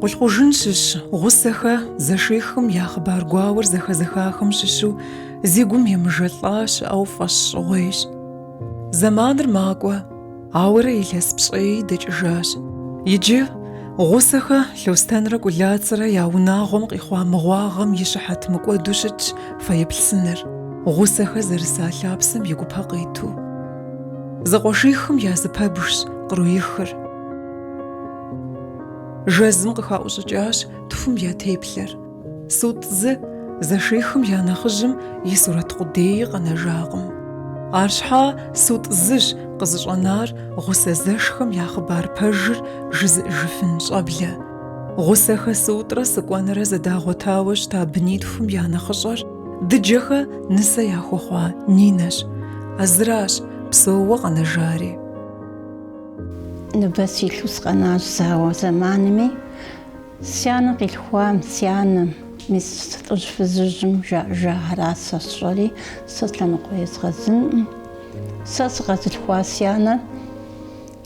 Къулъкъужын щыщ Гъусэхэ зэшихым я хъыбар гуауэр зэхэзыхахэм щыщу зи гум емыжэлӏа щыӏэу фӏэщ щӏыгъуейщ. Зэманыр макӏуэ, ауэрэ илъэс пщӏеи дэкӏыжащ. Иджы Гъусэхэ Лъостэнрэ Кӏулацэрэ я унагъуэм къихъуа мыгъуагъэм и щыхьэт мыкӏуэду щытщ фэеплъ сыныр, Гъусэхэ зэрыса лъапсэм и гупэ къиту. Зэкъуэшихым я зы пэбжщ къруихыр. Жэзым къыхаӏущӏыкӏащ тхум я теплъэр. Сутӏ зы, зэшихым я нэхъыжьым и сурэт къудеи къэнэжакъым. Арщхьа Сутӏ зыщ къызыщӏэнар Гъусэ зэшхэм я хъыбар пэжыр жызыӏыжыфын щӏэблэ. Гъусэхэ Сутӏрэ Сыкӏуэнрэ зэдагъуэтауэ щыта бынитхум я нэхъыщӏэр Дыджэхэ нысэ яхуэхъуа Нинэщ. А зыращ псэууэ къэнэжари. Ныбэ силъу сыкъэнащ зауэ зэманми, си анэ къилъхуам, си анэм, мис лӏыжь фызыжьым жаӏэжахэращ сэ сщӏэри, сэ зы лъэныкъуэ езгъэзынкъым. Сэ сыкъэзылъхуа си анэр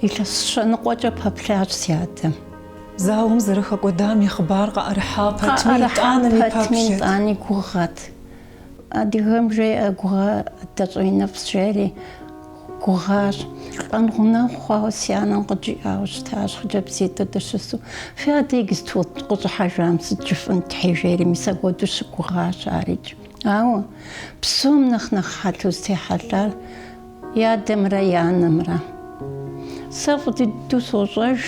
илъэс щэныкъуэкӏэ пэплъащ си адэм. Зауэм зэрыхэкӏуэдам и хъыбар къаӏэрыхьа пэтми, итӏани гугъэт. Адыгэм жеӏэ гугъэ адэ щӏэиныфӏщ жери, гугъащ. Лӏэн гъунэгъу хъуауэ си анэм къыджиӏауэ щытащ, хъыджэбзитӏыр дыщысу. Фи адэр иджыпсту къыщӏыхьэжам сыт жыфӏэнт тхьэ жери, мис апхуэдэу щыгугъащ арикӏ. Ауэ псом нэхъ нэхъ хьэлъэу зытехьэлъар, И адэмрэ и анэмрэ. Сэ фӏы дыдэу сощӏэж,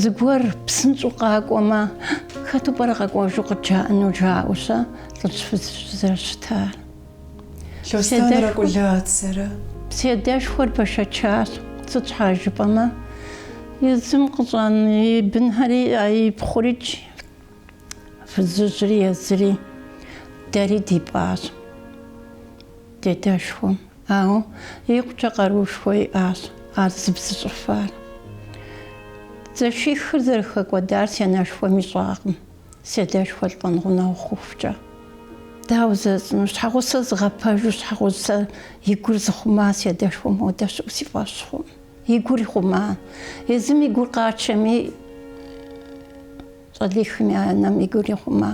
зыгуэр псынщӏэу къакӏуэмэ, хэту пӏэрэ къэкӏуэжу къыджаӏэну жаӏэу-щэ лӏыжь фызыжь зэрыщытар? Лъостэнрэ Кӏулацэрэ. Си адэшхуэр бэшэчащ. Сыт щхьа жыпӏэмэ, езым къыщӏэна и бынхэри ипхъурикӏ, фызыжьри езыри дэри дипӏащ. Ди адэшхуэм, ауэ икъукӏэ къаруушхуэ иӏащ ар зыбзыщӏыфар. Зэшихыр зэрыхэкӏуэдар си анэшхуэм ищӏакъым, си адэшхуэр лӏэн гъунэгъу хъухукӏэ. Дауэ жысӏэну, щхьэгъусэ зыгъэпэжу щхьэгъусэ и гур зыхъума си адэшхуэм хуэдэ щыӏэу си фӏэщ хъукъым. И гур ихъума. Езым и гур къачэми, щӏалихым я анэм и гур ихъума.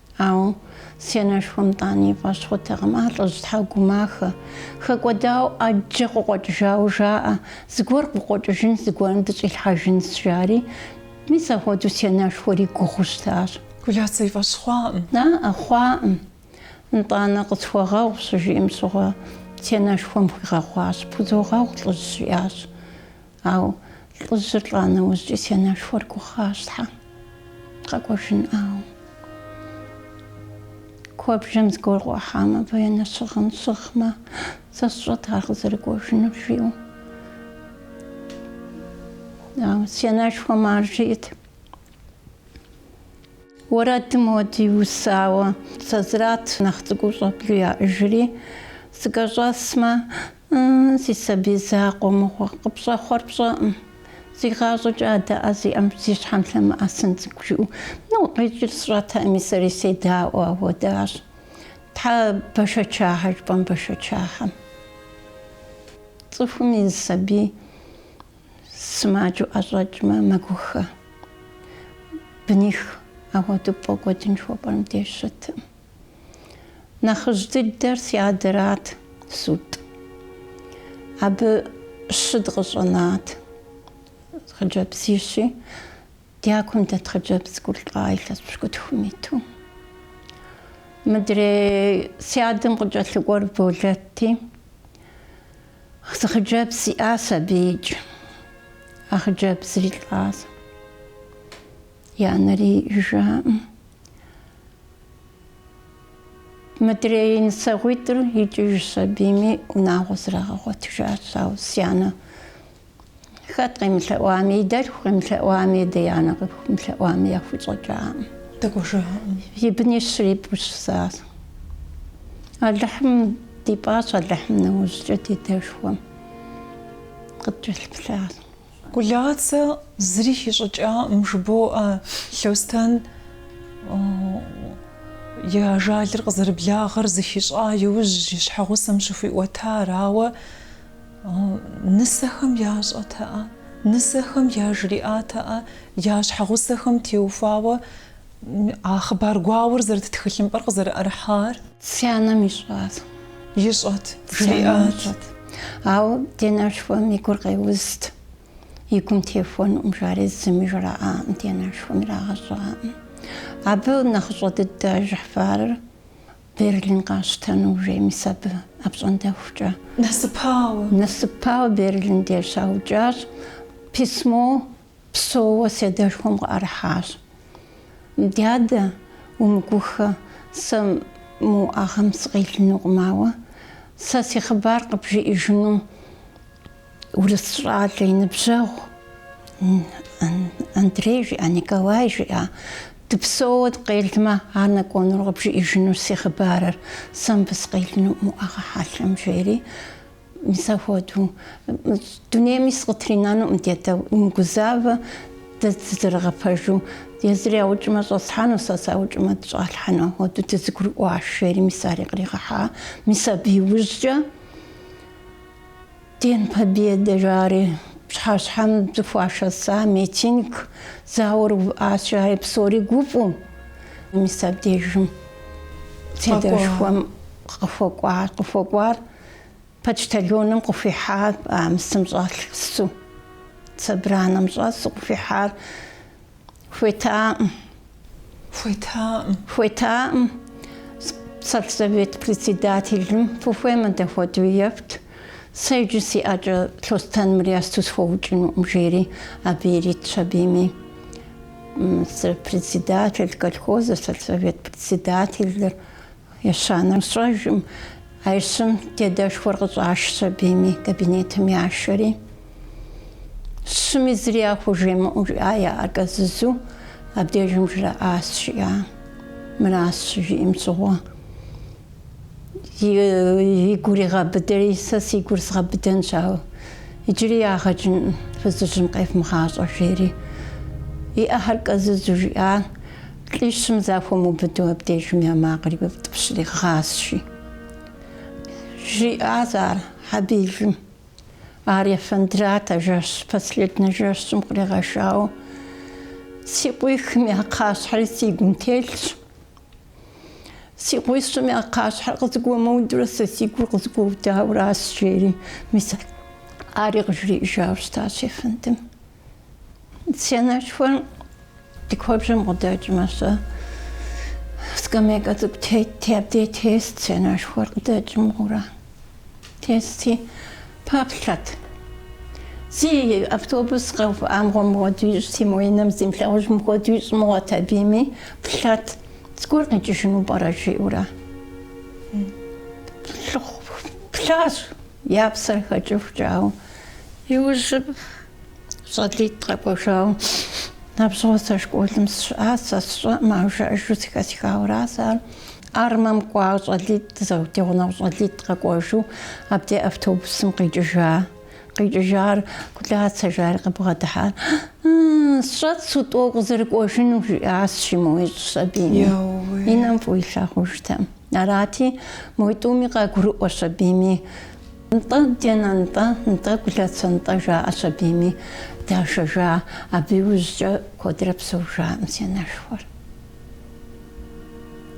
Ауэ сянэшхуэм тӏани и фӏэщ хъутэкъым, а лӏыжь, щхьэ угумахэ. Хэкӏуэдауэ ӏэджэ къыкъуэкӏыжауэ жаӏэ, Зыгуэр къыкъуэкӏыжынщ, зыгуэрым дыщӏилъхьэжынщ, жари. Мис апхуэдэу сянэшхуэри гугъэу щытащ. Кӏулацэ и фӏэщ хъуакъым. Аӏэ, хъуакъым. Нтӏанэ къысхуэгъэгъу, щыжиӏэм щыгъуэ, сянэшхуэм хуигъэгъуащ. Пхузогъэгъу, лӏыжь, жиӏащ. Ауэ лӏыжьыр лӏа нэужькӏи си анэшхуэр гугъащ Тхьэ къэкӏуэжынӏауэ. Куэбжэм зыгуэр къыӏухьам а военнэ щыгъын щыгъмэ, сэ сщӏэт ар къызэрыкӏуэжынур жиӏэу. Си анэшхуэм ар жиӏэт. Уэрэдым хуэдэ иусауэ сазрат нэхъ цӏыкӏуу щӏэблэу яӏыжри, сыкӏэщӏэсмэ, си сабий закъуэ мыгъуэ, къыпщӏэхъуэр пщӏэкъым, зи гъащӏэкӏэ адэ ӏэ зи ӏэм зи щхьэм лъэмыӏэсын цӏыкӏу жиӏэу нэуэ къикӏыр сщӏэтэкъыми, сэри седаӏуэу ахуэдащ. Тхьэ бэшэчагъэ жыпӏэм бэшэчагъэм. Цӏыхум и сабий Сымаджэу ӏэщӏэкӏмэ, мэгухэ. Быних апхуэдэу пфӏэкӏуэдын жыхуэпӏэр мыбдеж щытым. Нэхъыжь дыдэр си адэрат Сутӏ. Абы щы дыкъыщӏэнат. Хъыджэбзищи, дякум дэт хъыджэбз цӏыкӏур лӏащ илъэс пщыкӏутхум иту. Мыдрей си адэм къыкӏэлъыкӏуэр Болэтти, Зы хъыджэбз иӏащ абыикӏ. А хъыджэбзри лӏащ. И анэри иӏэжкъым. Мыдрей нысэгъуитӏыр икӏыжщ, абыми унагъуэ зрагъэгъуэтыжащ. Ауэ си анэ Хэт къемылъэӏуами, и дэлъху къемылъэӏуами, дэ и анэ къыхумылъэӏуами яхущӏэкӏакъым. Дэкӏуэжакъым. И бынищри ипӏу щысащ. Алыхьым дипӏащ, Алыхьым нэужькӏэ ди адэшхуэм къыткӏэлъыплъащ. Гулацэ зыри хищӏыкӏакъым, жыбоӏэ Лъостэн и ажалыр къызэрыблагъэр зыхищӏа иужь и щхьэгъусэм щыхуиӏуэтар, ауэ, Нысэхэм ящӏэтэӏэ, нысэхэм яжриӏатэӏэ я щхьэгъусэхэм теухуауэ а хъыбар гуауэр зэрыт тхылъымпӏэр къызэрыӏэрыхьар. Си анэм ищӏат. Ищӏэт, жриӏат. Ауэ ди анэшхуэм и гур къеузт. И гум техуэнукъым жари зыми жраӏакъым, ди анэшхуэм ирагъэщӏакъым. Абы нэхъыщӏэ дыдэ Жыхьфарыр. Берлин къащтэну уже мис абы апщӏондэхукӏэ нэсыпауэ Берлин деж щаукӏащ. Письмо псоуэ си адэшхуэм къыӏэрыхьащ. Дадэ, умыгухэ, сэ мы уӏэгъэм сыкъелынукъым, ауэ сэ си хъыбар къыбжиӏэжыну Урыс щӏалэ и ныбжьэгъу Андрей жиӏа, Николай жиӏа, дыпсэууэ дыкъелмэ, ар нэкӏуэнур къыбжиӏэжынущ си хъыбарыр, сэ мыбы сыкъелынуӏым уӏэгъэ хьэлъэм, жери, мис апхуэдэу, дунейми сыкъытринэнукъым, дядэ, умыгузавэ, дэ дызэрыгъэпэжу, езыр яукӏмэ щӏэслъхьэну, сэ саукӏмэ сыщӏалъхьэну, апхуэдэу дызэгурыӏуащ, жери, мис ари къригъэхьа, мис абы иужькӏэ, День Победы жари, пщыхьэщхьэм зыхуашэса митинг зауэр увыӏащ жари псори гуфӏэу мис абдежым сядэшхуэм къыхуэкӏуа, къыхуэкӏуар почтальоным къыхуихьа Бамсым щӏэлъ су, собранэм щӏэсу къыхуихьар. Хуетаӏым. Хуетаӏым. Хуетаӏым. Сельсовет председателым фыхуеймэ дэ хуэдэу ефт. Сэ иджы си ӏэкӏэ Лъостэным мыр есту схуэукӏынукъым, жери абы иритщ абийми. Сэ председатель колхозэ, сельсовет председателыр Ещанэр сщӏэжым, а ищым дядэшхуэр къыщӏашщ абийми, кабинетым яшэри. Щыми зыри яхужымыӏэу жиӏа я ӏэр кӏэзызу, абдежым жраӏащ, жиӏа. Мыращ щыжиӏэм щыгъуэ. И гур игъэбыдэри, сэ си гур згъэбыдэнщ, ауэ иджыри ягъэкӏын фызыжьым къевмыгъащӏэ, жери и ӏэхэр кӏэзызу жиӏа. Лӏищым захуэмыубыду абдежым я макъыр яутӏыпщри гъащи, жиӏащ ар Хьэбилым, ар ефэндрат, а жэщ, последнэ жэщым къригъэшауэ, си къуихым я кхъащхьэри си гум телъщ. Си къуищым я кхъащхьэр къызыгуэмыудурэ сэ си гур къызыгуэудауэращ, жери, мис ари къыжриӏыжауэ щытащ ефэндым. Сянэшхуэр ди куэбжэм къыдэкӏмэ, сэ скамейкэ цӏыкӏу тетти, абдей тест, сянэшхуэр къыдэкӏ мыгъуэурэ. Тести, пэплъэт. Зы автобус къэувыӏам мыгъуэ мыхуэду ищӏти, мо и нэм зи имылъагъуж мыхуэду ищӏ мыгъуэт абийми, плъэт, зыгуэр къикӏыжыну пӏэрэ жиӏэурэ. Лӏыху плъащ. Я псэр хэкӏыхукӏэ. Ауэ иужьым щӏалитӏ къэкӏуэжауэ. Абщыгъуэ сэ школым сщыӏа, сэ сщӏэӏым, ауэ жаӏэжу зэхэсхауэращ ар. Армэм кӏуауэ щӏалитӏ, ди гъунэгъу щӏалитӏ къэкӏуэжу абдей автобусым къикӏыжа. Къикӏыжар Кулацэ жари къыбгъэдыхьар. Сщӏэт сутӏуэ укъызэрыкӏуэжыну, жиӏащи, моу ищӏщ абийми. И нэм фӏыуэ илъагъужтэм. Арати, мой тӏуми къагурыӏуэ сабийми, Нтӏэ, ди анэ, нтӏэ, нтӏэ, Гулацэ, нтӏэ, жаӏэ сабийми. Дашэжа, абы иужькӏэ куэдрэ псэужаӏым си анэшхуэр.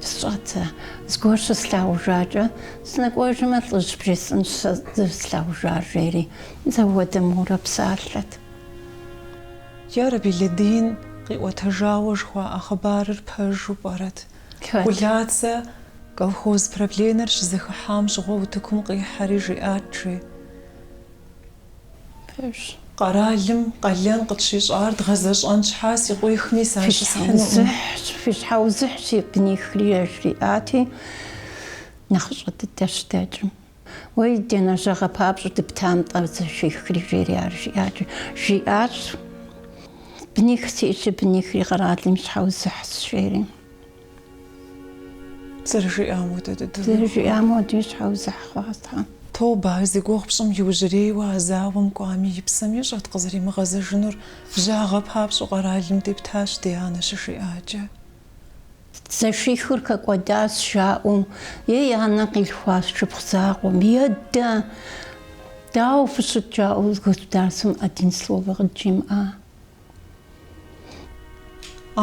Сщӏэт сэ, зыгуэр щыслъагъужакӏэ, сынэкӏуэжмэ, лӏыжь бжесӏэнщ сэ зэрыслъагъужар, жери, зэуэдэ мурэ псалъэт. Ярэби, Лэдин къиӏуэтэжауэ жыхуаӏэ хъыбарыр пэжу пӏэрэт? Гулацэ колхоз правленэр щызэхыхьам щыгъуэ утыкум къихьэри жиӏат, жи. Къэралым къалэн къытщищӏар дгъэзэщӏэн щхьа си къуихми сащысхьынукъым. Фи щхьэузыхь си бынихри, яжриӏати, нэхъыщӏэ дыдэ щыдэкӏым. Уей, ди анэ, жьагъэ папщӏэу дыпта нтӏэ, зэшихри жери ар жиӏакӏэ жиӏащ, Быних сиӏэщи, бынихри къэралым щхьэузыхьщ, жери. Зэрыжиӏам хуэдэ дыдэу. Зэрыжиӏам хуэдэу щхьэузыхь хъуащ Тхьэм. Тобэ, ар зи гугъу пщӏым иужьрейуэ а зауэм кӏуами, и псэм ищӏэт къызэримыгъэзэжынур, жьагъэ папщӏэу къэралым дептащ ди анэ щыжиӏакӏэ. Зэшихыр хэкӏуэдащ, жаӏэу, я анэ къилъхуа шыпхъу закъуэм, едэ! Дауэ фыщыт? жаӏэу государствэм один словэ къыджимыӏа.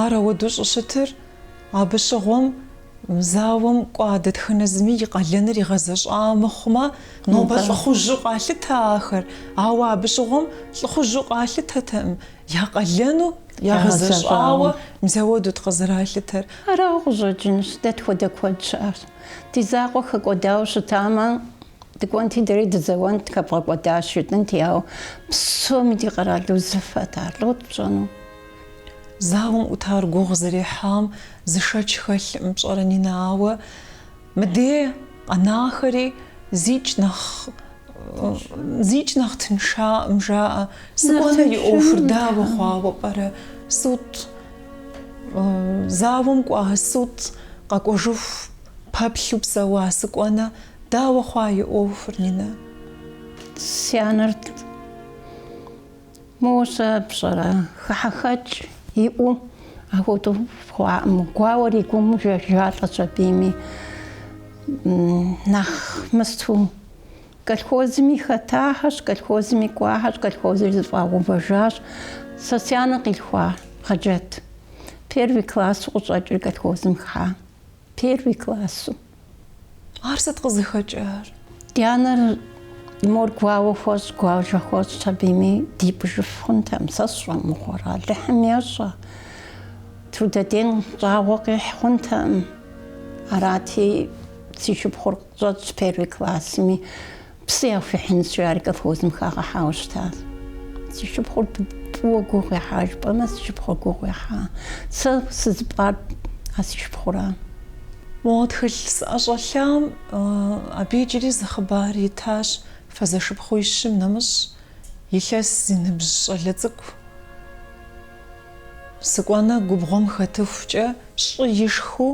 Ар ауэдэу щӏыщытыр абы щыгъуэм мы зауэм кӏуа дэтхэнэ зыми и къалэныр игъэзэщӏауэ мыхъумэ, нобэ лӏыхъужьу къалъытэ ахэр. Ауэ абы щыгъуэм лӏыхъужьу къалъытэтэкъым, я къалэну Ягъэзэщӏауэ мис ауэдэут къызэралъытэр. Арауэ къыщӏэкӏынщ, дэ тхуэдэ куэд щыӏащ. Ди закъуэ хэкӏуэдауэ щытамэ, дыкӏуэнти дэри дызэуэнт, хэбгъэкӏуэдащ жытӏэнти, ауэ псоми ди къэрал узыфэт ар, лӏот пщӏэну. Зауэм ӏутар гугъу зэрехьам зы шэч хэлъым, пщӏэрэ, Нинэ, ауэ. Мыдей къэнахэри зикӏ нэхъ зикӏ нэхъ тыншаӏым жаӏэ. Сыкӏуэнэ и ӏуэхур дауэ хъуауэ пӏэрэ? Сутӏ. Зауэм кӏуа, сутӏ. Къэкӏуэжыху пэплъу псэуа Сыкӏуэнэ дауэ хъуа и ӏуэхур, Нинэ? Си анэр Мосэ пщӏэрэ, хыхьэхэкӏ иӏэу апхуэдэу хъуакъым, гуауэр и гум ежалӏэщ, сабийми нэхъ мыстэу колхозыми хэтахэщ, колхозыми кӏуахэщ, колхозри зыфӏагъэувэжащ. Сэ си анэ къилъхуа Хъэджэт, первый классу къыщӏэкӏыр колхозым хыхьа. Первый классу. Ар сыт къызыхэкӏар? Ди анэр мор гуауэ хуэщӏ, гуажэ хуэщӏщ абыми дипӏыжыф хъунтэкъым, сэ сщӏэ мыгъуэрэ, Алыхьым ещӏэ. Трудодень щӏагъуэ къихь хъунтэкъым. Арати, си шыпхъур къыщӏэкӏщ первый классми. Псы яхуихьынщи, ар колхозым хагъэхьауэ щытащ. Си шыпхъур фӏыуэ гугъу ехьа жыпӏэмэ, си шыпхъур гугъу ехьа. Сэ сызыпӏар а си шыпхъуращ. Мо тхылъ сыӏэщӏэлъам абы иджыри зы хъыбар итащ, фэ зэшыпхъуищым нэмыщӏ илъэс зи ныбжь щӏалэ цӏыкӏу сыкӏуэнэ губгъуэм хэтыхукӏэ щӏы ишхыу,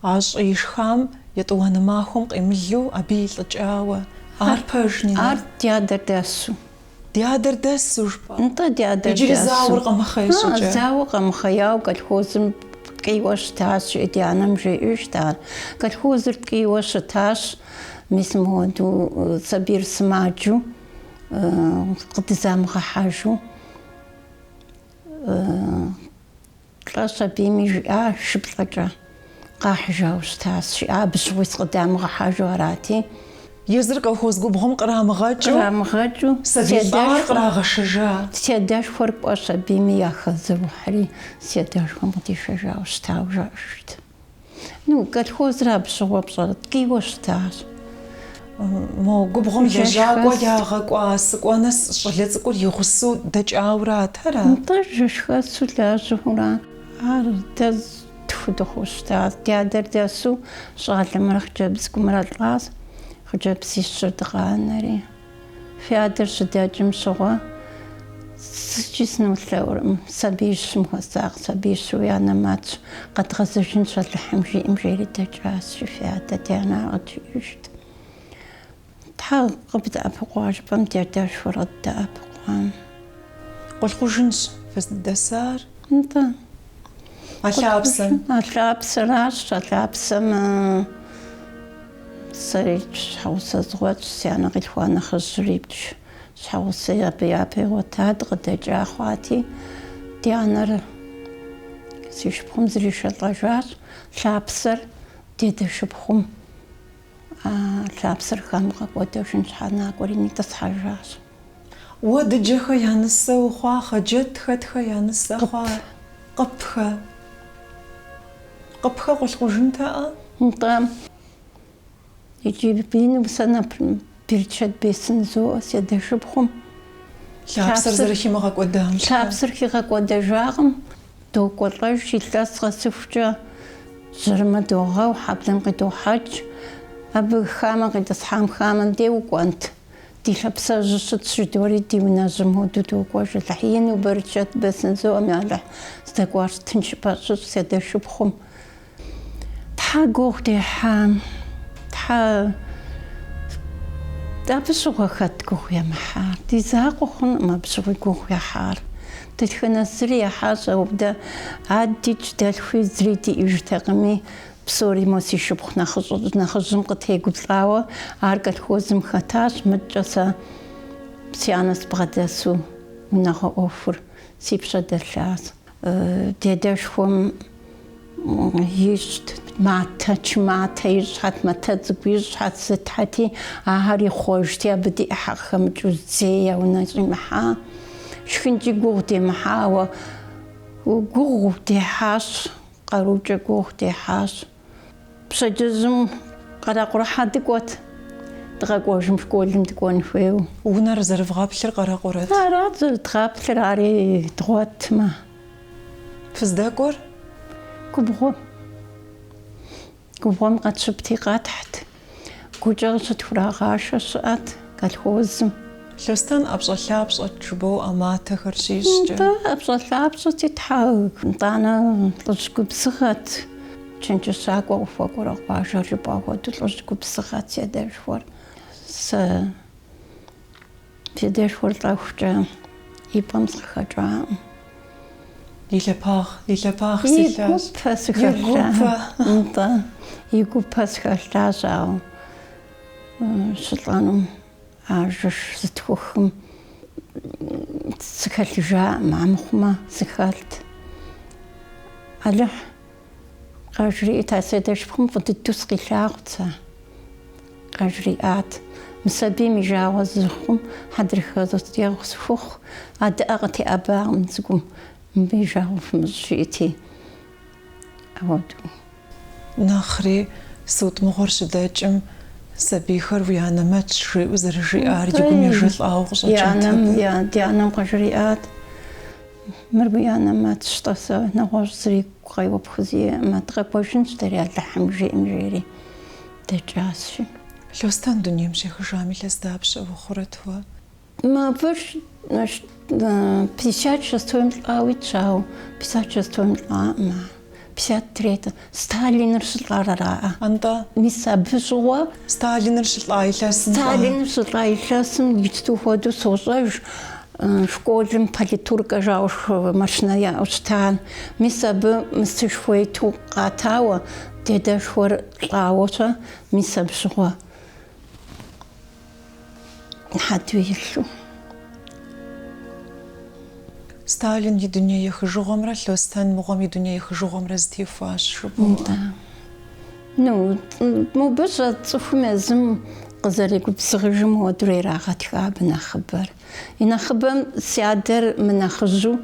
А щӏы ишхам етӏуанэ махуэм къемылу абы илӏыкӏауэ, ар пэжни. Ар ди адэр дэсу. Ди адэр дэсу жыпӏа? Нтӏэ, ди адэр дэсу. Иджыри зауэр къэмыхъей щӏыкӏэ. А-а, зауэ къэмыхъеяуэ колхозым ткӏийуэ щытащ, жи, ди анэм жеӏэжт ар. Колхозыр ткӏийуэ щытащ, мис мыуэду сабийр сымаджу, къыдызамыгъэхьэжу. Лӏэщ абыми жиӏа шыплӏэкӏэ къахьыжауэ щытащ, жиӏа абы щыгъуи сыкъыдамыгъэхьэжу арати. Езыр колхоз губгъуэм кърамыгъэкӏыу, кърамыгъэкӏыу сабий лӏагъэр кърагъэшэжа. Седэшхуэр кӏуэщ абыми яхэзыухьри, седэшхуэм къыдишэжауэ щытауэ жаӏэжырт. Ну, колхозыр абы щыгъуэ пщӏэрэ, ткӏийуэ щытащ. Мо губгъуэм Жэщхэс. лэжьакӏуэ ягъэкӏуа сыкӏуэнэ с- щӏалэ цӏыкӏур и гъусэу дэкӏауэ арат, ара? Нтӏэ, жэщхэсу лажьэхэу ара. Ар дэ тху дыхъуу щытащ. Ди адэр дэсу щӏалэмрэ хъыджэбз цӏыкӏумрэ лӏащ, хъыджэбзищыр дыкъанэри. Фи адэр щыдэкӏым щыгъуэ зыкӏи сынолъэӏуркъым. Сабиищым хуэсакъ, сабиищ уи анэмэтщ, къэдгъэзэжынщ Алыхьым жиӏэм жери дэкӏащ, жи фи адэ ди анэр къыджиӏэжт. Тхьэ къыбдэӏэпыкъуа жыпӏэм ди адэшхуэр къыддэӏэпыкъуам. Къулъкъужынщ фыздэсар. Нтӏэ. А лъапсэм? А лъапсэращ, а лъапсэм сэри щхьэгъусэ згъуэтщ, си анэ къилъхуа нэхъыжьыр ипщ. Щхьэгъусэ абы япэ игъуэтат, къыдэкӏа хъуати, ди анэр си шыпхъум зришэлӏэжащ, лъапсэр дедэшыпхъум. А лъапсэр хамыгъэкӏуэдэжын щхьэ накӏуэри нитӏысхьэжащ. Уэ дыджэхэ я нысэ ухъуа, Хъэджэт хэтхэ я нысэ хъуа, Къыпхэ. Къыпхэ Къулъкъужынтэкъэ? Нтӏэ. Иджы бийным сэ нэпр берычэт бесын зоӏэ, седэшыпхъум. Лъапсэр зэрыхимыгъэкӏуэдам щхьэ. Лъапсэр хигъэкӏуэдэжакъым. Докӏуэлӏэж илъэс къэсыхукӏэ, жьэрымэ догъэу, хьэблэм къыдохьэкӏ. Абы хамэ къитӏысхьам хамэм де укӏуэнт? Ди лъапсэжьыр щытщ, жыдори ди унэжьым хуэдэу докӏуэж. Алыхь ину, бэрычэт бэсын зоӏэм, ялыхь, здэкӏуар тыншыпӏэ щыщӏ, си адэ шыпхъум. Тхьэ гугъу дехьа, Тхьэ абы щыгъуэ хэт гугъу емыхьар? Ди закъуэ хъункъым абы щыгъуи гугъу ехьар. Дэтхэнэ зыри ехьащ, ауэ дэ, адыдикӏ дэлъхуи зыри диӏэжтэкъыми, псори мо си шыпхъу нэхъыжьым къытегуплӏауэ ар колхозым хэтащ, мыдкӏэ сэ си анэ сыбгъэдэсу унагъуэ ӏуэхур си пщэ дэлъащ. Ди адэшхуэм ищӏт матэ, чы матэ ищӏхэт, матэ цӏыкӏу ищӏхэт сытхэти, ахэр ихъуэжти, абы ди ӏыхьэ къыхэмыкӏыу зэи я унэ щӏимыхьа. Шхынкӏи гугъу демыхьа, ауэ гугъу дехьащ, къарукӏэ гугъу дехьащ. Пщэдджыжьым къэрэкъурэхьэ дыкӏуэт, дыкъэкӏуэжым школым дыкӏуэн хуейуэ. Унэр зэрывгъэплъыр къэрэкъурэт? Арат зэрыдгъэплъыр, ари дгъуэтмэ. Фыздэкӏуэр? Губгъуэм. Губгъуэм къэтщыпти, къэтхьт. Гукӏэ къыщытхурагъашэ щыӏэт колхозым. Лъостэн ӏэпщӏэлъапщӏэт жыбоӏэ а матэхэр щищӏкӏэ. Нтӏэ, ӏэпщӏэлъапщӏэти, тхьэ, нтӏанэ лӏыжь губзыгъэт. Чэнджэщакӏуэ къыхуэкӏуэрэ къуажэр жыпӏа хуэдэу лӏыжь губзыгъэт си адэшхуэр. Сэ. Си адэшхуэр лӏэхукӏэ и пӏэм сыкъыхэкӏакъым. И лъэпагъ, и лъэпагъ силъащ. И гупэ сыхэлъащ, ауэ щылӏэнум а жэш зытхухым сыхэлъыжакъым, амыхъумэ сыхэлът. Алыхь. Къажриӏат, А си адэ шыпхъум фӏы дыдэу сыкъилъагъут сэ. Къажриӏат, Мы сабийм и жагъуэ зыхъум хьэдрыхэ судэгъу къысхухъу, а дыӏэ къытеӏэбакъым цӏыкӏум, мыбы и жагъуэ фымыщӏ жиӏэти. Ауэдэу. Нэхъри, суд мыгъуэр щыдэкӏым, Сабийхэр уи анэмэтщ, жиӏэу зэрыжиӏар ди гум ежэлӏауэ къыщӏэкӏынтэкъым. Ди анэм къыжриӏат. Мыр уи анэмэтщ-тӏэ, сэ нэгъуэщӏ зыри гукъеуэ пхузиӏэкъым, дыкъэкӏуэжынщ дэри Алыхьым жиӏэм, жери дэкӏащи. Лъостэн дунейм щехыжам илъэс дапщэ ухъурэт уэ? Мыбдеж пятьдесят шестойм лӏауэ итщ, ауэ пятьдесят шестойм лӏакъым ар. Пятьдесят третье. Сталиныр щылӏар араӏэ? Нтӏэ. Мис абы щыгъуэ. Сталиныр щылӏа илъэсым иджту хуэдэу сощӏэж, школым политуркэ жаӏэу машинэ яӏэу щыта. Мис абы мыстышхуэ иту къатауэ, дедэшхуэр лӏауэ щӏэ, мис абы щыгъуэ? Хьэдэу илъу. Сталин и дуней ехыжыгъуэмрэ Лъостэн мыгъуэм и дуней ехыжыгъуэмрэ зытехуащ жыпӏэу. Да. Ну, мобы щӏэ цӏыхум езым къызэригубзыгъыжым хуэдэурэ ирагъэтха абы нэхъыбэр. И нэхъыбэм си адэр мынэхъыжьу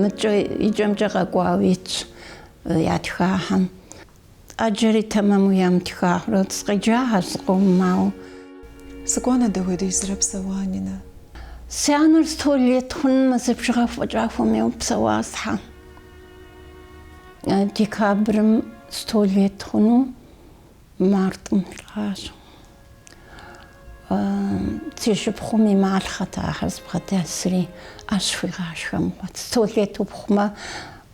мыкӏэ икӏэмкӏэ къэкӏуауэ итщ ятхахэм. Ӏэджэри тэмэму ямытха. Сыкъеджагъэщ зыкъомым, ауэ. Сыкӏуанэ дэ хуэдизрэ псэуа, Нинэ? Си анэр сто лет хъун мазэ бжыгъэ фӏэкӏа хуэмейуэ псэуа схьэ. Декабрым сто лет хъуну мартӏым лӏагъэщ. Си шыпхъум и малъхъэт ахэр зыбгъэдэсри, ӏэщ хуигъашхэм. Сто лет ухъумэ,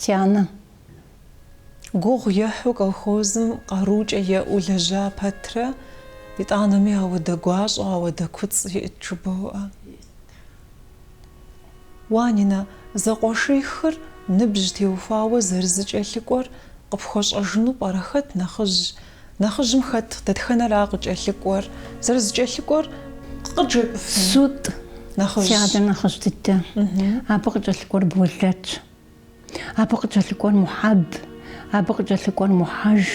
Тянэ. Гугъу ехьу колхозым къарукӏэ еӏэу лэжьа пэтрэ, итӏанэми ауэдэ гуащӏэ, ауэдэ куцӏ иӏт жыбоӏэ. Уа, Нинэ, зэкъуэшихыр ныбжь теухуауэ зэрызыкӏэлъыкӏуэр къыпхуэщӏэжыну пӏэрэ хэт нэхъыжь Нэхъыжьым хэт дэтхэнэра къыкӏэлъыкӏуэр? Зэрызыкӏэлъыкӏуэр къыджепӏэфын? Сут, си адэ нэхъыжь дыдэ. Абы къыкӏэлъыкӏуэр Болэтщ. Абы къыкӏэлъыкӏуэр Мухьэб. Абы къыкӏэлъыкӏуэр Мухьэж.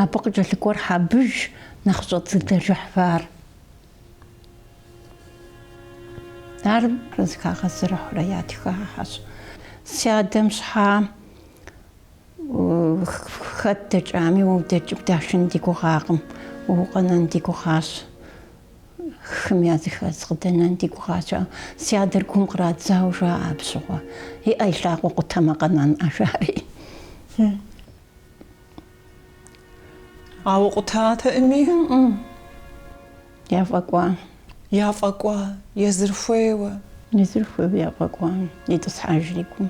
Абы къыкӏэлъыкӏуэр Хьэбыж, нэхъыщӏэ дыдэ Жыхьфар. Ар зыхагъэзэрыхьурэ ятхахэщ. Си адэм щхьэ Хэт дэкӏами, уэ удэкӏыу дашын ди гугъакъым, уэ укъэнэн ди гугъащ, хым языхэз къыдэнэн ди гугъащ. Ауэ си адэр гум кърадзауэ жаӏэ абы щыгъуэ. И ӏэ и лъакъуэ къутэмэ къэнэн, жаӏэри. Ауэ къутатэӏыми? Яфӏэкӏуа. Яфӏэкӏуа, езыр хуейуэ. Езыр хуейуэ яфӏэкӏуа, итӏысхьэжри гум.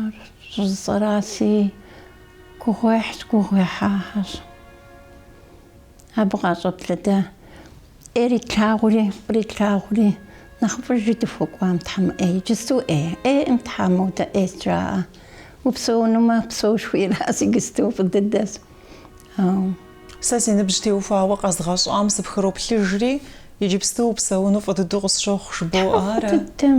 Ар щӏыжысӏэраси гугъуехьщ, гугъуехьагъэщ. Абы къащӏэблэда ӏейр итлъагъури, фӏыр итлъагъури, нэхъыфӏыжи дыхуэкӏуам тхьэмыӏе, иджысту ӏе, ӏейкъым тхьэму, дэ ӏейщ жаӏэ. Упсэунумэ, псэу жыхуиӏэраси, гысту фӏы дыдэщ. Ау. Сэ си ныбжь теухуауэ къэзгъэщӏам сыпхыроплъыжри, иджыпсту упсэуну фӏы дыдэу къысщохъу, жыбоӏэ ара? Фӏы дыдэм.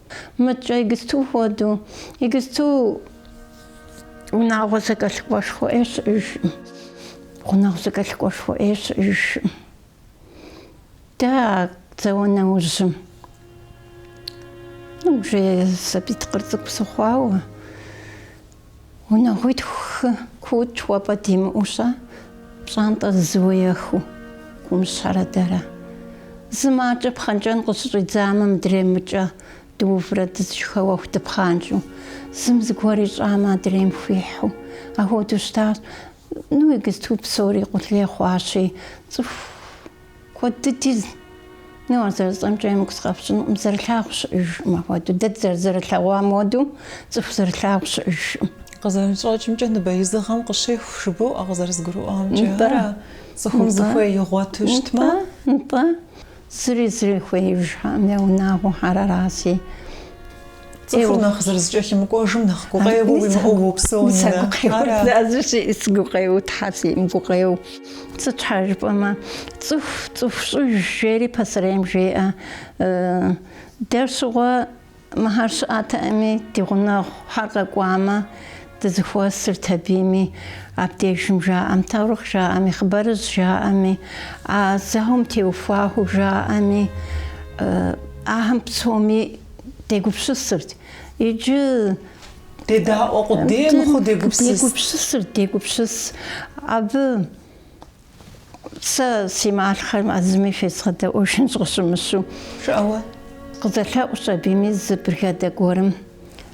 Мыткӏэ игысту хуэдэу, игысту унагъуэ зэкӏэлъыкӏуэшхуэ ӏей щыӏэжкъым, гъунэгъу зэкӏэлъыкӏуэшхуэ ӏей щыӏэжкъым. Дэ а зауэ нэужьым, ну, уже сабий тыкъыр цӏыкӏу сыхъуауэ, Унагъуитху-хы куут хуэпӏэ димыӏэу-щэ, пщӏантӏэ зызыуеэхыу Кумыщхьэрэ дэрэ? Зым акӏэ пхъэнкӏэн къыщыщӏидзамэ, мыдрейм мыкӏэ дыуврэ дызышхэуэху дыпхъанкӏэу, зым зыгуэр ищӏамэ, адрейм хуихьу, ахуэдэу щытащ. Ну игысту псори къулей хъуащи, цӏыху. Куэд дыди зы ну ар зэрысцӏэмкӏэ емыкӏу сыкъэфщӏынукъым, зэрылъагъу щыӏэжкъым апхуэдэу, дэ дызэрызэрылъэгъуам уэду цӏыху зэрылъагъу щыӏэжкъым. Къызэрыщӏэкӏымкӏэ ныбэизыгъэм къыщеху жыбоӏэ къызэрызгурыӏуамкӏэ, Нтӏэ. ара цӏыхум Нтӏэ. зыхуей игъуэту щытмэ? Нтӏэ, нтӏэ, зыри зыри хуеижхьэкъым я унагъуэхьэр араси. Цӏыхур нэхъ зэрызэкӏэлъымыкӏуэжым нэхъ гукъеуэ уимыӏэу уопсэу, Нинэ. Си гукъеуэ, Тхьэ сиӏэм гукъеуэ. Сыт щхьа жыпӏэмэ, цӏыху цӏыху щӏыжщ жери пасэрейм жеӏэ. Дэр щыгъуэ мыхьэр щыӏэтэӏыми, ди гъунэгъухэр къэкӏуамэ, дызыхуэсырт абыми, абдежым жаӏэм, таурыхъ жаӏэми, хъыбарыжь жаӏэми, а зауэм теухуахыу жаӏэми, ахэм псоми, дегупсысырт иджы. Дедаӏуэ къудей мыхъуу дегупсыс. Дегупсысырт, дегупсыс. Абы сэ си малъхъэм а зыми фезгъэдэӏуэжынщ къыщымыщу. Жыӏэуэ? Къызэлъэӏущ абыми зы бригадэ гуэрым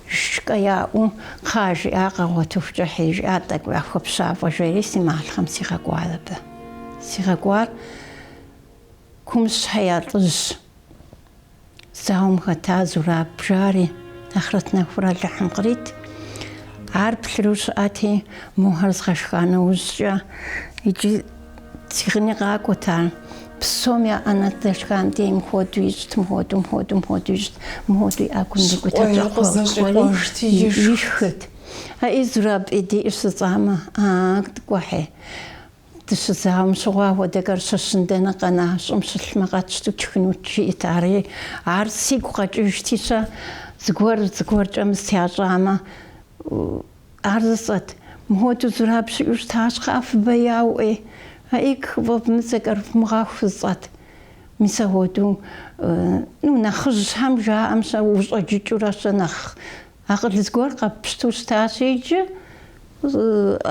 шкӏэ яӏэу, кхъа, жиӏа, къагъуэтыхукӏэ хьи, жиӏа, тӏэкӏуи ахуэпщафӏэ, жери си малъхъэм сигъэкӏуар абы. Сигъэкӏуар Кумыщхьэ я лӏыжь. Зауэм хэта Зураб жари, ахърэт нэхур Алыхьым кърит. Ар плъырэу щыӏэти, мохэр згъэшха нэужькӏэ, иджы цигъыни къакӏуэт ар. Псом я ӏэнэ здэшхам дей мыхуэду ищӏт, мыхуэду, мыхуэду, мыхуэду ищӏт, мыхуэду и ӏэгум ирикӏутэрт, щӏакхъуэри ишхырт. Аӏи, Зураб, ди ӏи жысӏамэ, а, кӏуэхьи. Дыщызауэм щыгъуэ ахуэдэхэр щыщын дэнэ къэна щӏым щылъмэ къэтщтэу тшхынут, жиӏэт. Ари, ар сигу къэкӏыжти-щэ, зыгуэр зыгуэркӏэ мыстэ ящӏамэ, ар жысӏэт. Мыхуэдэу Зураб щыӏэу щыта, щхьэ фыбэяуэ ӏей? Аик, фӏэвмыцӏэкӏэр фымыгъэху жысӏэт. Мис ахуэдэу, ну, нэхъыжьхэм жаӏэм-щэ, ущӏэджыкӏыурэ-щэ нэхъ Акъыл зыгуэр къэпщту щытащ иджы.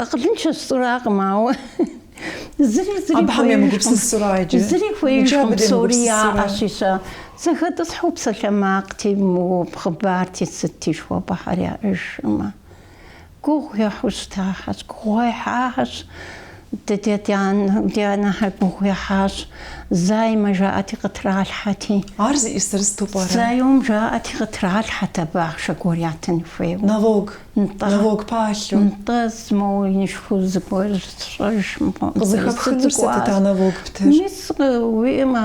Акъылыншэщ жысӏэракъым, ауэ зыри зыри хуеижкъым. Абыхэм емыгупсысура иджы? Зыри хуеижкъым, псори яӏэщ ищӏа. Зэхэтӏысхьу псалъэмакъти, хъыбарти, сытти жыхуэпӏэхэр яӏэжӏымэ, гугъу ехьу щытахэщ, гугъуехьахэщ. Дэ ди анэхэр гугъу ехьащ. Займэ жаӏэти, къытралъхьэти. Ар зыи сырысту пӏэрэ? Заём жаӏэти, къытралъхьэт абы ахъшэ гуэр ятын хуейуэ. Налог. Нтӏэ. Налог палъэу. Нтӏэ, моуэ инышхуэу зыгуэр сщӏэж мыхъуам. Къызыхэпхынур сытыт а налог птыр? Мис уиӏэмэ,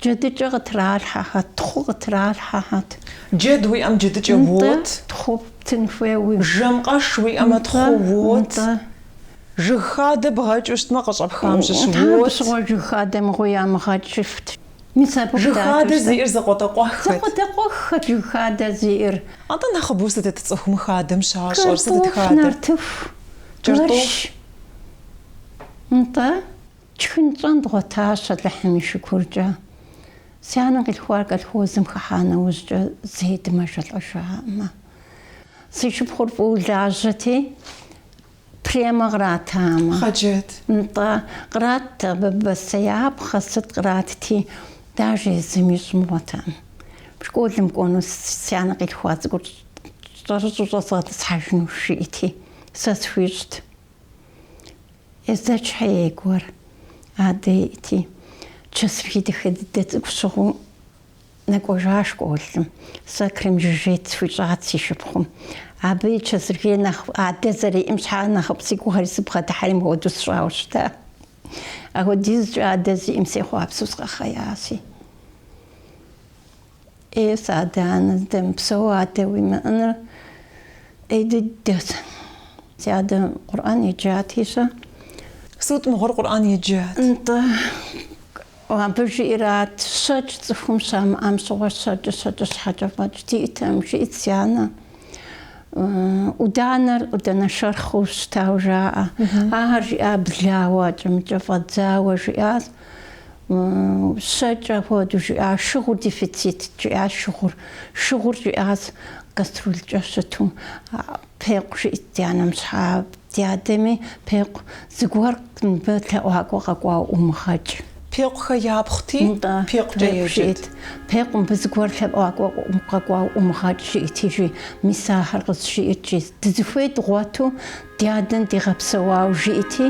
джэдыкӏэ къытралъхьэхэт, тхъу къытралъхьэхэт. Джэд уиӏэм джэдыкӏэ уот. Нтӏэ, тхъу птын хуейуи. Жэмкъэш уиӏэмэ, тхъу уот. Нтӏэ. Жыг хадэ бгъэкӏыу щытмэ, къыщӏэпхам щыщ уот. Тхьэ абы щыгъуэ жыг хадэ мыгъуи ямыгъэкӏыфт. Мис абы къыдакӏуэщ. Жыг хадэ зиӏэр закъуэтӏакъуэххэт. Закъуэтӏакъуэххэт жыг хадэ зиӏэр. Атӏэ нэхъыбэу сытыт цӏыхум хадэм щащӏэр? Сытыт хадэ? Картоф, нартыху, джэрш. Нтӏэ, тшхын тщӏэн дгъуэтащ Алыхьым и шыкуркӏэ. Си анэм къилъхуар колхозым хыхьа нэужькӏэ зэи дымэжэлӏэжаӏэмэ. Си шыпхъур фӏыуэ лажьэти, Премэ къратамэ. Хъэджэт. Нтӏэ, кърат абы бостеяпхъэ, сыт къратти, дажэ езым ищӏ мыгъуэтэӏым. Школым кӏуэну си анэ къилъхуа цӏыкӏур щӏэрыщӏу щӏэзгъэтӏысхьэжынущ жиӏэти, сэ схуищӏт. Езэчхэ ей гуэр адэ иӏэти, чэсыргей дахэ дыдэ цӏыкӏу щыгъыу Нэкӏуэжа школым сэ крепжоржет схуищӏат си шыпхъум. Абы и чэзыргей нэхъ адэ зэриӏым щхьа нэхъыфӏ си гугъэри сыбгъэдыхьэри мыхуэду сщӏауэ щыта. Ахуэдизкӏэ адэ зиӏым сехъуапсэу сыкъэхъеяси. Е си адэ-анэ здэмыпсэу адэ уимыӏэныр ӏей дыдэт. Си адэ Къурӏэн еджати-щэ? Сыт мыгъуэр Къурӏэн еджат? Нтӏэ. Абы жиӏэрат, Щэкӏ цӏыхум щамыӏэм щыгъуэ щэкӏыр щэкӏыщхьэкӏэ фӏэкӏ диӏэтэӏым, жиӏт си анэ. ӏуданэр ӏудэнэ шэрхъыу щытауэ жаӏэ. Ахэр жиӏа блауэ, ӏэкӏэмыкӏэ фӏэдзауэ жиӏащ. Щэкӏ апхуэдэу жиӏа, Шыгъур дефицитт, жиӏащ шыгъур. Шыгъур жиӏащ, каструлкӏэ щыту. Пекъу, жиӏт ди анэм, щхьэ ди адэми, Пекъу, зыгуэр мыбы лъэӏуакӏуэ къэкӏуа умыгъэкӏ. Пекъухэ япхъути, Нтӏэ, Пекъукӏэ Пекъу, еджэт. жиӏт, Пекъу, мыбы зыгуэр лъэӏуакӏуэ къэкӏуа умыгъэкӏ, жиӏти жи, мис ахэр къызжиӏэт икӏи, дызыхуей дгъуэту ди адэм дигъэпсэуауэ жиӏти,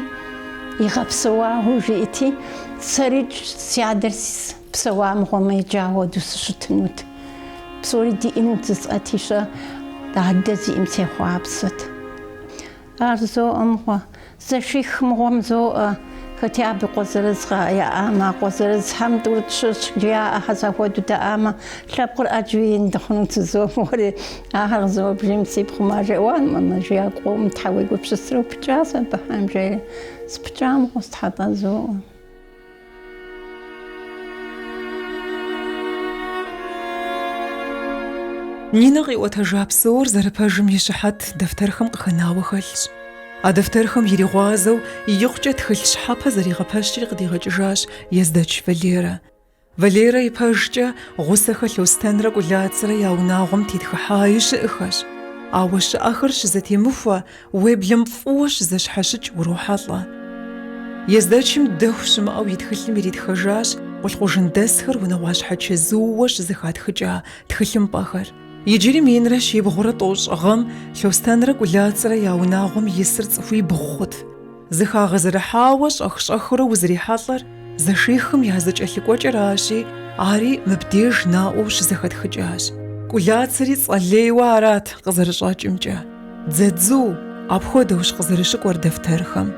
игъэпсэуауэ жиӏти, сэрикӏ си адэр Псэуа мыгъуэмэ иджы ауэду сыщытынут. Псори диӏэнут зысӏэтищэ, дадэ зиӏэм сехъуапсэт. Ар зоӏэ мыгъуэ, зэших мыгъуэм зоӏэ, хэти абы къуэ зырыз къа яӏамэ, а къуэ зырызхэм тӏурытӏ щыщ жиӏэ, хьэзахуэду дэӏамэ, лъэпкъыр ӏэджи ин дыхъунут зызоӏэ мыгъуэри, ахэр къызэуэбжейм си пхъум ар жеӏэ, уа мамэ, жи, а къом щхьэ уегупсысрэ, упыкӏащ абыхэм, жери, сыпыкӏа мыгъуэщ, тхьэ, тӏэ, зоӏэ. Нинэ къиӏуэтэжа псор зэрыпэжым и щыхьэт дэфтэрхэм къыхэнауэ хэлъщ. А дэфтэрхэм иригъуазэу икъукӏэ тхылъ щхьэпэ зэригъэпэщри къыдигъэкӏыжащ Ездэч Валерэ. Валерэ ипэжкӏэ Гъусэхэ Лъостэнрэ Кӏулацэрэ я унагъуэм тетхыхьаи щыӏэхэщ. Ауэ щыӏэхэр щызэтемыхуэ Уеблэм фӏыуэ щызэщхьэщыкӏ урохьэлӏэ. Ездэчым дэху щымыӏэу и тхылъым иритхэжащ къулъкъужындэсхэр унэгъуащхьэ чэзууэ щызэхатхыкӏа тхылъымпӏэхэр. Иджыри минрэ щибгъурэ тӏощӏ гъэм Лъостэнрэ Кӏулацэрэ я унагъуэм исыр цӏыхуибгъу хъут. Зэхагъэзэрыхьауэ щӏэх-щӏэхыурэ узрихьэлӏэр зэшихым я зэкӏэлъыкӏуэкӏэращи, ари мыбдеж наӏуэу щызэхэтхыкӏащ. Кӏулацэри цӏэ лейуэ арат, къызэрыщӏэкӏымкӏэ, Дзэдзу, апхуэдэущ къызэрыщыкӏуэр дэфтэрхэм.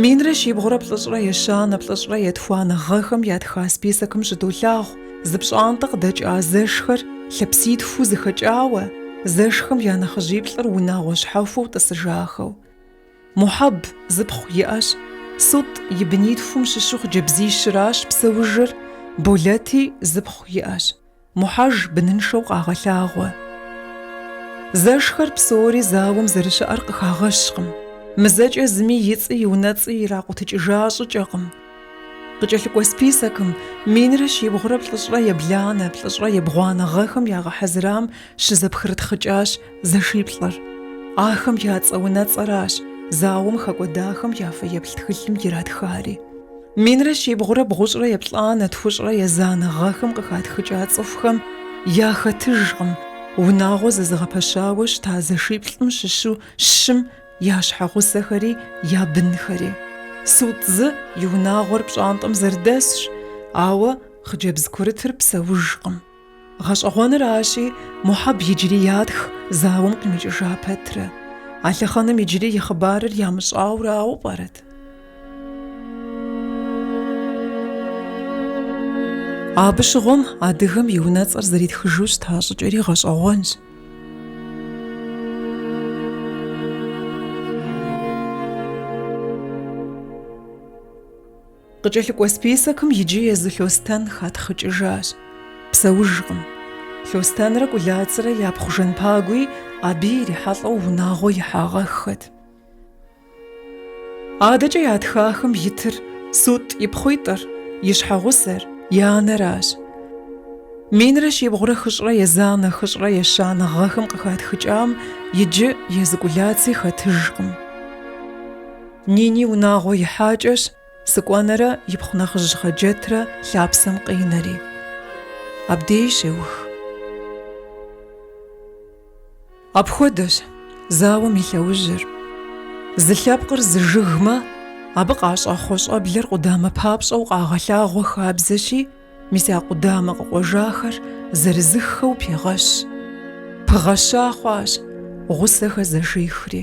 Минрэ щибгъурэ плӏыщӏрэ ещанэ, плӏыщӏрэ етхуанэ гъэхэм ятха списокым щыдолъагъу зы пщӏантӏэ къыдэкӏа зэшхэр лъэпситхуу зэхэкӏауэ, зэшхэм я нэхъыжьиплӏыр унагъуэ щхьэхуэу тӏысыжахэу. Мухьэб зы пхъу иӏэщ, Сут и бынитхум щыщу хъыджэбзищыращ псэужыр, Болэти зы пхъу иӏэщ, Мухьэж быныншэу къагъэлъагъуэ. Зэшхэр псори зауэм зэрыщыӏэр къыхагъэщкъым, мызэкӏэ зыми и цӏи и унэцӏи иракъутыкӏыжа щӏыкӏэкъым. Къыкӏэлъыкӏуэ списокым минрэ щибгъурэ плӏыщӏрэ ебланэ, плӏыщӏрэ ебгъуанэ гъэхэм ягъэхьэзырам щызэпхрытхъыкӏащ Зэшиплӏыр. Ахэм я цӏэ-унэцӏэращ зауэм хэкӏуэдахэм я фэеплъ тхылъым иратхари. Минрэ щибгъурэ бгъущӏрэ еплӏанэ, тхущӏрэ езанэ гъэхэм къыхатхыкӏа цӏыхухэм яхэтыжкъым, унагъуэ зэзыгъэпэщауэ щыта зэшиплӏым щыщу щым я щхьэгъусэхэри я бынхэри. Сут зы и унагъуэр пщӏантӏэм зэрыдэсщ, ауэ хъыджэбз курытыр псэужкъым. Гъэщӏэгъуэныращи, Мухьэб иджыри ятх зауэм къимыкӏыжа пэтрэ, а лъэхъэнэм иджыри и хъыбарыр ямыщӏауэ арауэ пӏэрэт? Абы щыгъуэм адыгэм и унэцӏэр зэритхыжу щыта щӏыкӏэри гъэщӏэгъуэнщ. Къыкӏэлъыкӏуэ списокым иджы езы Лъостэн хатхъыкӏыжащ. Псэужкъым. Лъостэнрэ Кӏулацрэ япхъу Жэнпагуи абы ирихьэлӏэу унагъуэ ихьагъэххэт. Адэкӏэ ятхахэм итыр Сутӏ ипхъуитӏыр, и щхьэгъусэр, и анэращ. Минрэ щибгъурэ хыщӏрэ езанэ хыщӏрэ ещанэ гъэхэм къыхатхыкӏам иджы езы Кӏулаци хэтыжкъым. Нини унагъуэ ихьакӏэщ, Сыкӏуэнэрэ ипхъу нэхъыжь Хьэджэтрэ лъапсэм къинэри. Абдей щеух. Апхуэдэщ зауэм и лъэужьыр. Зы лъэпкъыр зы жыгмэ, абы къащӏэхъуэ щӏэблэр къудамэ папщӏэу къагъэлъагъуэ хабзэщи, мис а къудамэ къыкъуэжахэр зырызыххэу пегъэщ. Пыгъэща хъуащ, гъусэхэр зэшихри.